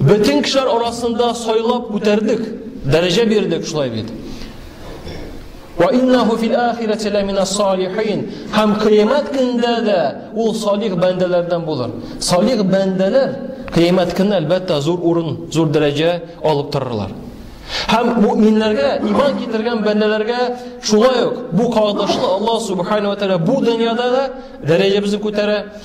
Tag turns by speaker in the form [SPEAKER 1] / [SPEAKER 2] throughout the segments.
[SPEAKER 1] Бөтен кешеләр арасында сайлап күтәрдек, дәрәҗә бирдек шулай бит. Ва иннаху фил ахирати ламина салихин. Һәм кыямәт көндә дә ул салих бәндәләрдән булыр. Салих бәндәләр кыямәт көндә әлбәттә зур урын, зур дәрәҗә алып торырлар. Һәм мөминнәргә, иман китергән бәндәләргә шулай ук бу кагылышлы Аллаһ субханаһу ва тааля бу дөньяда да дәрәҗәбезне күтәрә,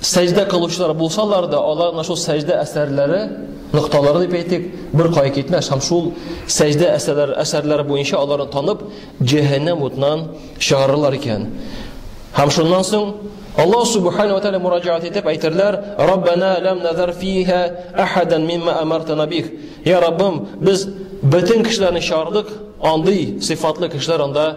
[SPEAKER 1] сәҗдә кылучылар булсалар да, алар менә шул сәҗдә әсәрләре, нокталары дип әйтик, бер кая китмәс һәм шул сәҗдә әсәрләре, әсәрләре буенча аларны танып, җәһәннәм утыннан чыгарырлар икән. Һәм шуннан соң Аллаһ субхану ва тааля мураҗаат итеп әйтерләр: "Раббана лам назар фиха ахадан мимма амартана бих". Я Раббым, без бөтен кешеләрне чардык, андый сыйфатлы кешеләр анда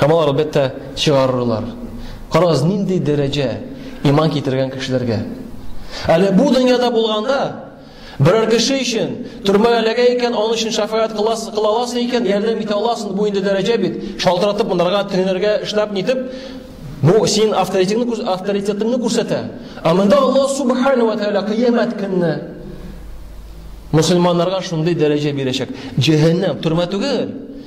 [SPEAKER 1] Һәм алар, әлбәттә, чыгарырлар. Карагыз, нинди дәрәҗә иман китергән кешеләргә. Әле бу дөньяда булганда, берәр кеше өчен төрмәгә эләгә икән, аның өчен шафаат кыласың, кыла аласың икән, ярдәм итә аласың, бу инде дәрәҗә бит. Шалтыратып монарга, тегеләргә эшләп нитеп, бу син авторитетыңны, авторитетыңны күрсәтә. Ә монда Аллаһ субхана ва тааля кыямәт көнне мусульманнарга шундый дәрәҗә бирәчәк. Җәһәннәм, төрмә түгел.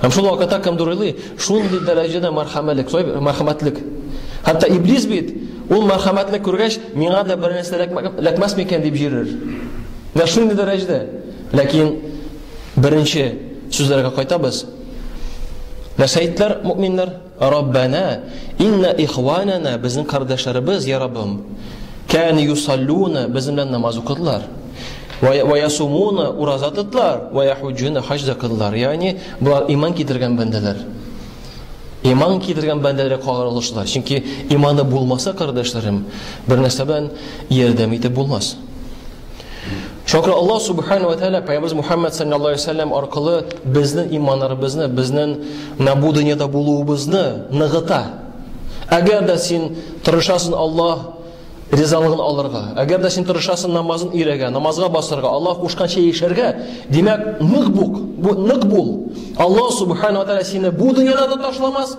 [SPEAKER 1] Һәм шул вакытта кемдер уйлый, шундый дәрәҗәдә мәрхәмәтлек, сой, мәрхәмәтлек. Хәтта иблис бит, ул мәрхәмәтлек күргәч, миңа да бер нәрсә ләкмәс микән дип җирер. Менә шундый дәрәҗәдә. Ләкин беренче сүзләргә кайтабыз. Нәрсә әйттеләр мөэминнәр? Раббана, инна ихванана, безнең кардәшләребез, я Раббым, кәне юсаллуна, безнең белән намаз укыдылар. Ва ясумуна, ураза тотлар, ва яхуджуна, хаҗ да кылдылар. Ягъни, булар иман китергән бәндәләр. Иман китергән бәндәләр кагырылышлар. Чөнки иманы булмаса, кардәшләрем, бер нәрсә белән ярдәм итеп булмас. Чөнки Аллаһ субхана ва тәгалә пәйгамбер Мухаммад саллаллаһу алейһи вәсәлләм аркылы безнең иманнарыбызны, безнең набу дөньяда булуыбызны ныгыта. Әгәр дә син тырышасың Аллаһ ризалыгын алырга, әгәр дә син тырышасың намазын өйрәгә, намазга басырга, Аллаһ кушканча яшәргә, димәк, нык бук, бу нык бул. Аллаһ субхана ва тәгалә сине бу дөньяда да ташламас,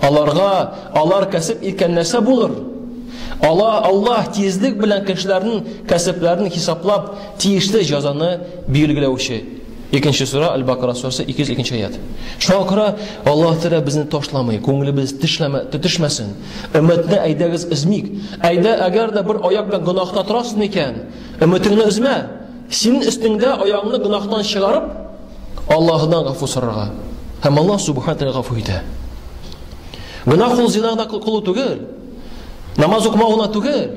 [SPEAKER 1] Аларга алар кәсеп иткән нәрсә булыр? Ала Аллаһ тизлек белән кешеләрнең кәсепләрен хисаплап, тиешле җазаны билгеләүче. Икенче сура Аль-Бакара сурәсе 202 аят. Шуңа күрә Аллаһ Тәгалә безне ташламый, күңелебез тешләмә, төшмәсен. Өметне әйдәгез өзмик. Әйдә, әгәр дә бер аяк белән гөнаһта торасың икән, өметеңне өзмә. Синең өстеңдә аягыңны гөнаһтан чыгарып, Аллаһыдан гафу сорарга. Һәм Аллаһ Субхаһу тәгалә гафу итә. Гына кул зина гына кылу түгел. Намаз укымау гына түгел.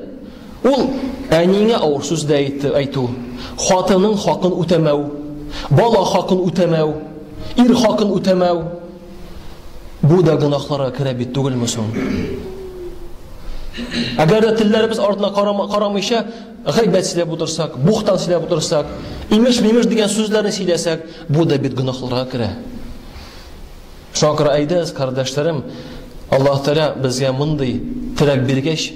[SPEAKER 1] Ул әниеңә авыр сүз дә әйтү, хатының хакын үтәмәү, бала хакын үтәмәү, ир хакын үтәмәү. Бу да гынахларга керә бит түгелме соң? Әгәр дә телләребез артына карамыйча, Гайбәт сөйләп утырсак, бухтан сөйләп утырсак, имеш-мимеш дигән сүзләрне сөйләсәк, бу да бит гөнаһларга керә. Шуңа күрә әйдәгез, кардәшләрем, Аллаһ Тәгалә безгә мондый терәк биргәч,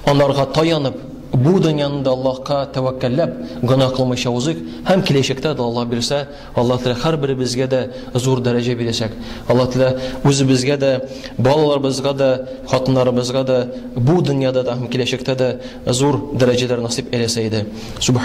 [SPEAKER 1] анарга таянып, бу дөньяны да Аллаһка тәвәккәлләп, гөнаһ кылмыйча узыйк һәм киләчәктә дә Аллаһ бирсә, Алла теләсә һәрберебезгә дә зур дәрәҗә бирәчәк. Алла теләсә үзебезгә дә, балаларыбызга да, хатыннарыбызга да бу дөньяда да һәм киләчәктә дә зур дәрәҗәләр насыйп әйләсә иде.